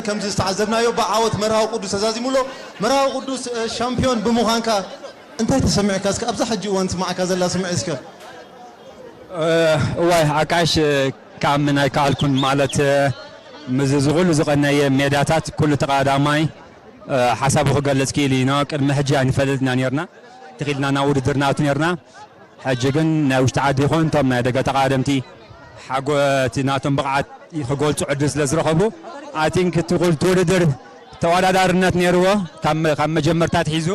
ከምዚ ዝተዓዘብናዮ ብዓወት መርሃዊ ቅዱስ ተዛዚሙ ኣሎ። መርሃዊ ቅዱስ ሻምፕዮን ብምዃንካ እንታይ ተሰሚዑካ? እስከ ኣብዛ ሕጂ እዋን ትስምዓካ ዘላ ስምዒት እስከ? እዋይ ኣካይሽ ክኣምን ኣይከኣልኩን ማለት ምስዚ ዝኹሉ ዝቐነየ ሜዳታት ኩሉ ተቐዳዳማይ ሓሳቡ ክገልጽ ክኢሉ ኢና ቅድሚ ሕጂ ኣይንፈልጥን ኢና ኔርና ተኺኢልና ናብ ውድድር ንኣቱ ኔርና ሕጂ ግን ናይ ውሽጢ ዓዲ ይኹን እቶም ናይ ደገ ተቓደምቲ ሓጎ እቲ ናቶም ብቕዓት ክገልጹ ዕድል ስለ ዝረኸቡ ኣይ ቲንክ እቲ ኩሉ እቲ ውድድር ተወዳዳርነት ነይርዎ ካብ ካብ መጀመርታ ኣትሒዙ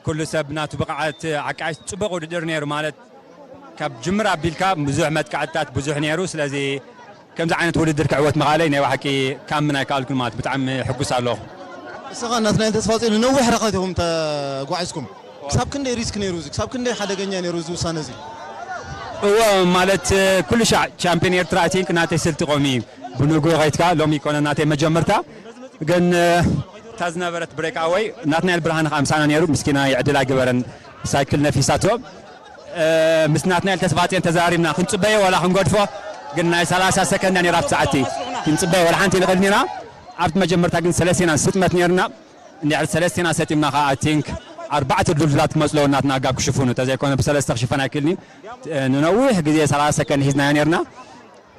ኩሉ ሰብ ናቱ ብቕዓት ዓቃይስ ጽቡቕ ውድድር ነይሩ ማለት ካብ ጅምር ኣቢልካ ብዙሕ መጥቃዕትታት ብዙሕ ነይሩ ስለዚ ከምዚ ዓይነት ውድድር ክዕወት ምኽኣለይ ናይ በሓቂ ክኣምን ኣይከኣልኩን ማለት ብጣዕሚ ሕጉስ ኣለኹ። ንስኻን ናትናኤል ተስፋጽዮንን ነዊሕ ርሕቀት ኢኹም ተጓዒዝኩም። ክሳብ ክንደይ ሪስክ ነይሩ እዚ? ክሳብ ክንደይ ሓደገኛ ነይሩ እዚ ውሳነ እዚ? እወ ማለት ኩሉ ሻዕ ቻምፕዮን ኤርትራ እቲ እንክ ናተይ ስልቲ ኮሚ እዩ ብንጉኡ ከይትካ ሎሚ ኣይኮነን ናተይ መጀመርታ ግን። እታ ዝነበረት ብሬክ ኣወይ ናትናኤል ብርሃነ ከኣ ምሳና ነይሩ ምስኪናይ ዕድል ኣይግበረን ሳይክል ነፊሳቶ። ምስ ናትናኤል ተስፋጽዮን ተዘራሪብና ክንጽበዮ ዋላ ክንገድፎ ግን ናይ ሰላሳ ሰከንድ እያ ኔራ ኣብቲ ሰዓት እቲ ክንጽበዮ ዋላ ሓንቲ ንኽእል ኔና ኣብቲ መጀመርታ ግን ሰለስቴና ስጥመት ኔርና እንድሕሪ ሰለስቴና ሰጢምና ከኣ ኣይ ቲንክ ኣርባዕተ ድልዱላት ክመጹ ኣለዎም ናትና ጋብ ክሽፍኑ ተዘይኮነ ብሰለስተ ክሽፈን ኣይክእልን'ዩ ንነዊሕ ግዜ ሰላሳ ሰከንድ ሒዝናዮ ኔርና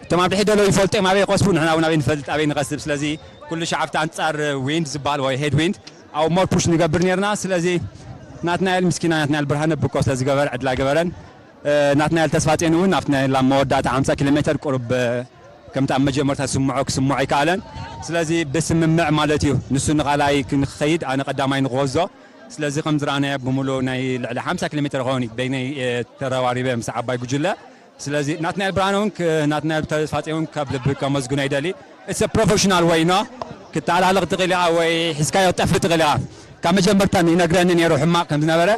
እቶም ኣብ ድሕሪት ደለው ይፈልጡ እዮም ኣበይ ይቀስቡ ንሕና ውን ኣበይ ንፈልጥ ኣበይ ንቀስብ ስለዚ ኩሉ ሻዕ ኣብቲ ኣንጻር ዊንድ ዝባሃል ወይ ሄድ ዊንድ ኣብኡ ሞር ፑሽ ንገብር ኔርና ስለዚ ናትናኤል ምስኪና ናትናኤል ብርሃነ ብኮ ስለ ዝገበረ ዕድል ኣይገበረን ናትናኤል ተስፋጼን ውን ኣብቲ ናይ ላም መወዳእታ ሓምሳ ኪሎ ሜተር ቁሩብ ከምቲ ኣብ መጀመርታ ዝስምዖ ክስምዖ ኣይከኣለን ስለዚ ብስምምዕ ማለት እዩ ንሱ ንካልኣይ ንክከይድ ኣነ ቀዳማይ ንክወዞ ስለዚ ከም ዝረኣናዮ ብምሉኡ ናይ ልዕሊ ሓምሳ ኪሎ ሜተር ይከውን በይነይ ተረባሪበ ምስ ዓባይ ጉጅለ ስለዚ ናትናኤል ብርሃነ ውን ናትናኤል ተስፋጼን ውን ካብ ልቢ ከመስግኖ ይደሊ ኢትስ እ ፕሮፈሽናል ዌይ ን ክተሃላልኽ ትኽእል ኢኻ ወይ ሒዝካዮ ክትጠፍእ ትኽእል ኢኻ ካብ መጀመርታ ይነግረኒ ኔሩ ሕማቕ ከም ዝነበረ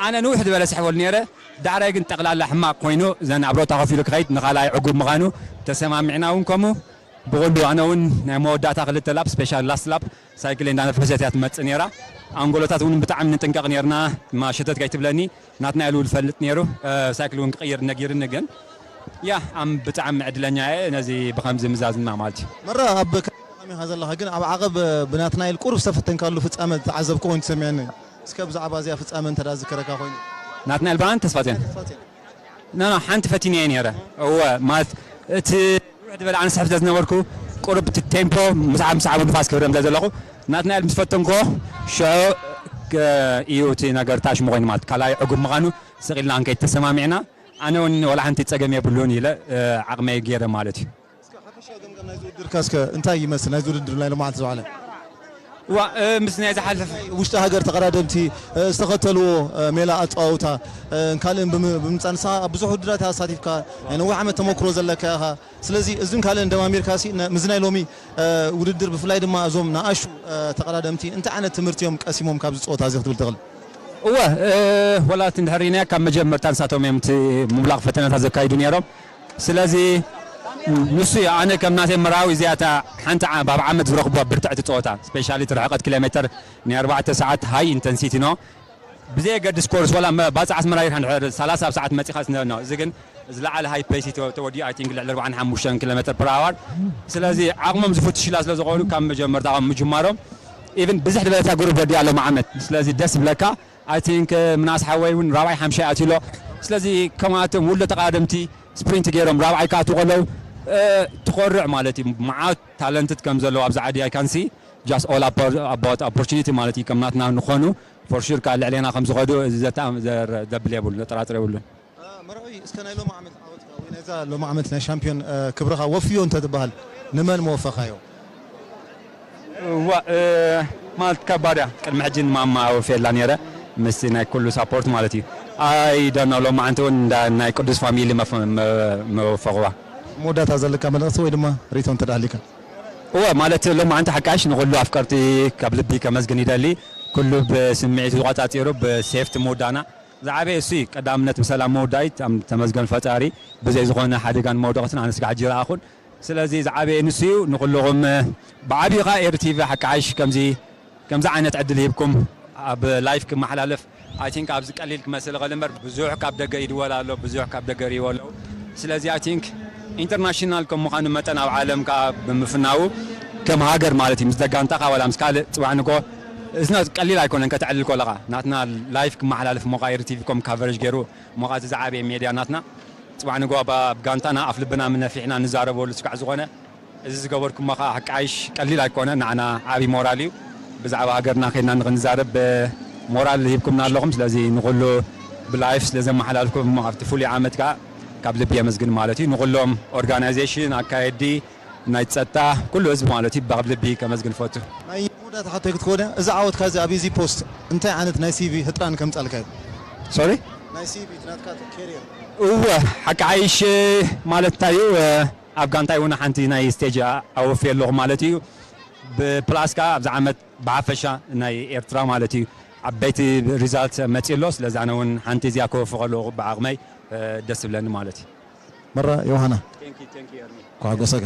ኣነ ንውሕ ዝበለ ስሕበሉ ኔረ ዳሕራይ ግን ጠቕላላ ሕማቕ ኮይኑ ዘን ኣብ ሮታ ኮፍ ኢሉ ክኸይድ ንኻልኣይ ዕጉብ ምኻኑ ተሰማሚዕና ውን ከምኡ ብኹሉ ኣነ ውን ናይ መወዳእታ ክልተ ላፕ ስፔሻሊ ላስት ላፕ ሳይክለይ እንዳነፈሰት እያ ትመጽእ ኔራ ኣንጎሎታት ውን ብጣዕሚ ንጥንቀቕ ኔርና ድማ ሸተት ከይትብለኒ ናትናኤል ዉን ዝፈልጥ ኔሩ ሳይክል ዉን ክቅይር ነጊርኒ ግን ያእ ኣም ብጣዕሚ ዕድለኛ እየ ነዚ ብከምዚ ምዛዝማ ማለት እዩ። መራ ኣብ ካልእ ዕላማ ኢኻ ዘለኻ ግን ኣብ ዓቐብ ብናትናኤል ቁሩብ ዝተፈተንካሉ ፍጻመ ዝተዓዘብኩ ኮይኑ ተሰሚዑኒ እስከ ብዛዕባ እዚኣ ፍጻመ እንተ ዝከረካ ኮይኑ። ናትናኤል ባን ተስፋጼን ኖኖ ሓንቲ ፈቲነዮ ኔረ እወ ማለት እቲ። ንውሕ ዝበለ ኣነ ስሕብ ስለ ዝነበርኩ ቁሩብ እቲ ቴምፖ ምስ ዓም ሰዓቡ ንፋስ ክህረም ስለ ዘለኹ ናትናኤል ምስ ፈተንክዎ ሽዑ ኢዩ እቲ ነገር እታ ሽሙ ኮይኑ ማለት ካልኣይ ዕጉብ ምኻኑ ስቅ ኢልና ክንከይድ ተሰማሚዕና ኣነ ውን ወላ ሓንቲ ጸገም የብሉን ኢለ ዓቅመይ ጌረ ማለት ኢዩ። እስከ ሓፈሻዊ ገምጋም ናይዚ ውድድርካ እስከ እንታይ ይመስል ናይዚ ውድድር ናይ ሎማዓንቲ ዝወዓለ? ዋእ ምስ ናይ ዝሓለፈ። ውሽጢ ሃገር ተቐዳደምቲ ዝተኸተልዎ ሜላ ኣጸዋውታን ካልእን ብምምጻእ ንስኻ ኣብ ብዙሕ ውድድራት ኢኻ ተሳቲፍካ፣ ናይ ነዊሕ ዓመት ተመኩሮ ዘለካ ኢኻ። ስለዚ እዝን ካልእን ደማሚርካሲ ምስዚ ናይ ሎሚ ውድድር ብፍላይ ድማ እዞም ንኣሽቱ ተቐዳደምቲ እንታይ ዓይነት ትምህርቲ እዮም ቀሲሞም ካብዚ ጸወታዚ ክትብል ትኽእል? እወ፣ ዋላ እቲ እንድሕር ርኢናዮ ካብ መጀመርታ ንሳቶም እዮም እቲ ምውላቕ ፈተነታት ዘካይዱ ነይሮም። ስለዚ ንሱ እዩ ኣነ ከም ናተይ ምራዊ እዚኣ እታ ሓንቲ ኣብ ዓመት ዝረኽብዋ ብርትዕቲ ጸወታ ስፔሻሊ እቲ ርሕቐት ኪሎሜተር ናይ ኣርባዕተ ሰዓት ሃይ ኢንተንሲቲ ን ብዘየገድስ ኮርስ ወላ ባጽዕ ኣስመራ ጌርካ እንድሕር ሰላሳ ኣብ ሰዓት መጺኻስ ን እዚ ግን ዝለዓለ ሃይ ፔሲ ተወዲኡ ኣይ ቲንክ ልዕሊ ኣርብዓን ሓሙሽተን ኪሎሜተር ፐር ኣዋር ስለዚ ዓቕሞም ዝፍትሹላ ስለ ዝኾኑ ካብ መጀመርታ ምጅማሮም ኢቭን ብዝሕ ዝበለታ ግሩፕ ወዲኣ ሎሚ ዓመት ስለዚ ደስ ይብለካ I think ምናስ ሓወይ ውን ራብዓይ ሓምሻይ ኣትዩ ኣሎ ስለዚ ከምኣቶም ውልዶ ተቃደምቲ ስፕሪንት ጌሮም ራብዓይ ክኣትዉ ከለዉ ትኮርዕ ማለት እዩ ማዓት ታለንትት ከም ዘለዉ ኣብዚ ዓዲ I can see just all about opportunity ማለት እዩ ከም ናትና ንክኮኑ for sure ካኣ ልዕሌና ከም ዝከዱ ዘተኣም ዘር ዘብል የብሉን ዘጠራጥር የብሉን። መርዑይ እስከ ናይ ሎሚ ዓመት ዓወትካ ወይ ናይዛ ሎሚ ዓመት ናይ ሻምፕዮን ክብርኻ ወፍዮ እንተትብሃል ንመን ምወፈኻዮ? እዋእ ማለት ከባድ እያ ቅድሚ ሕጂ ንማማ ኣወፍየላ ኔረ ምስቲ ናይ ኩሉ ሳፖርት ማለት እዩ ኣይ ዶኖ ሎማዓንቲ ውን እንዳ ናይ ቅዱስ ፋሚሊ ምወፈኽዋ። ኣብ መወዳእታ ዘለካ መልእኽቲ ወይ ድማ ሪኢቶ እንተ ሃልዩካ? እወ ማለት ሎማዓንቲ ሓቃይሽ ንኹሉ ኣፍቀርቲ ካብ ልቢ ከመስግን ይደሊ ኩሉ ብስምዒቱ ተቋጻጺሩ ብሴፍቲ ምውዳእና ዝዓበየ እሱ'ዩ ቀዳምነት ብሰላም ምውዳኢት ኣም ተመስገን ፈጣሪ ብዘይ ዝኾነ ሓደጋን መውደቕትን ኣነስ ክዓ ሕጂ ረኣኹን ስለዚ ዝዓበየ ንሱ'ዩ ንኹሉኹም ብዓቢኡ ክዓ ኤሪ ቲቪ ሓቂ ዓሽ ከምዚ ከምዚ ዓይነት ዕድል ሂብኩም ኣብ ላይፍ ክመሓላለፍ ኣይ ቲንክ ኣብዚ ቀሊል ክመስል ይኽእል እምበር ብዙሕ ካብ ደገ ይድወል ኣሎ ብዙሕ ካብ ደገ ይሪእዎ ኣለዉ ስለዚ ኣይ ቲንክ ኢንተርናሽናል ከም ምዃኑ መጠን ኣብ ዓለም ክዓ ብምፍናዉ ከም ሃገር ማለት እዩ ምስ ደጋንታኻ ዋላ ምስ ካልእ ጽባሕ ንግሆ እዝና ቀሊል ኣይኮነን ከተዕልል ኮለኻ ናትና ላይፍ ክማሓላልፍ ሞቃይር ቲቪ ኮም ካቨረጅ ገሩ ሞቃ እዚ ዝዓበየ ሜድያ ናትና ጽባሕ ንግሆ ብ ጋንታና ኣፍ ልብና ምነፊሕና ንዛረበሉ ስጋዕ ዝኾነ እዚ ዝገበርኩሞ ከኣ ሓቃይሽ ቀሊል ኣይኮነን ናዓና ዓቢ ሞራል እዩ ብዛዕባ ሃገርና ከድና ንኽንዛረብ ሞራል ሂብኩምና ኣለኹም ስለዚ ንኹሉ ብ ላይፍ ስለ ዘማሓላልፍኩሞ ኣብቲ ፍሉይ ዓመት ከኣ ካብ ልቢ የመስግን ማለት እዩ ንኹሎም ኦርጋናይዘሽን ኣካየድቲ ናይ ጸጥታ ኩሉ ህዝቢ ማለት እዩ ብብ ልቢ ከመስግን እፈቱ። ናይ መወዳእታ ሕቶይ ክትከውን'ያ እዚ ዓወትካ እዚ ኣብ ኢዚ ፖስት እንታይ ዓይነት ናይ ሲቪ ህጥራን ከምጻልካ እዩ? Sorry? ናይ ሲቪ እቲ ናትካ ኬርየር። እወ ሓቂ ሓይሽ ማለት እንታይ እዩ ኣብ ጋንታይ ውን ሓንቲ ናይ ስቴጅ ኣወፍየ ኣለኹ ማለት እዩ ብ ፕላስ ከኣ ኣብዚ ዓመት ብሓፈሻ ናይ ኤርትራ ማለት እዩ ዓበይቲ ሪዛልት መጽዩ ኣሎ ስለዚ ኣነ ውን ሓንቲ እዚኣ ከወፊ ከለኹ ብዓቕመይ ደስ ዝብለኒ ማለት እዩ። መራ ዮውሃና ኳዕጎሰጋ።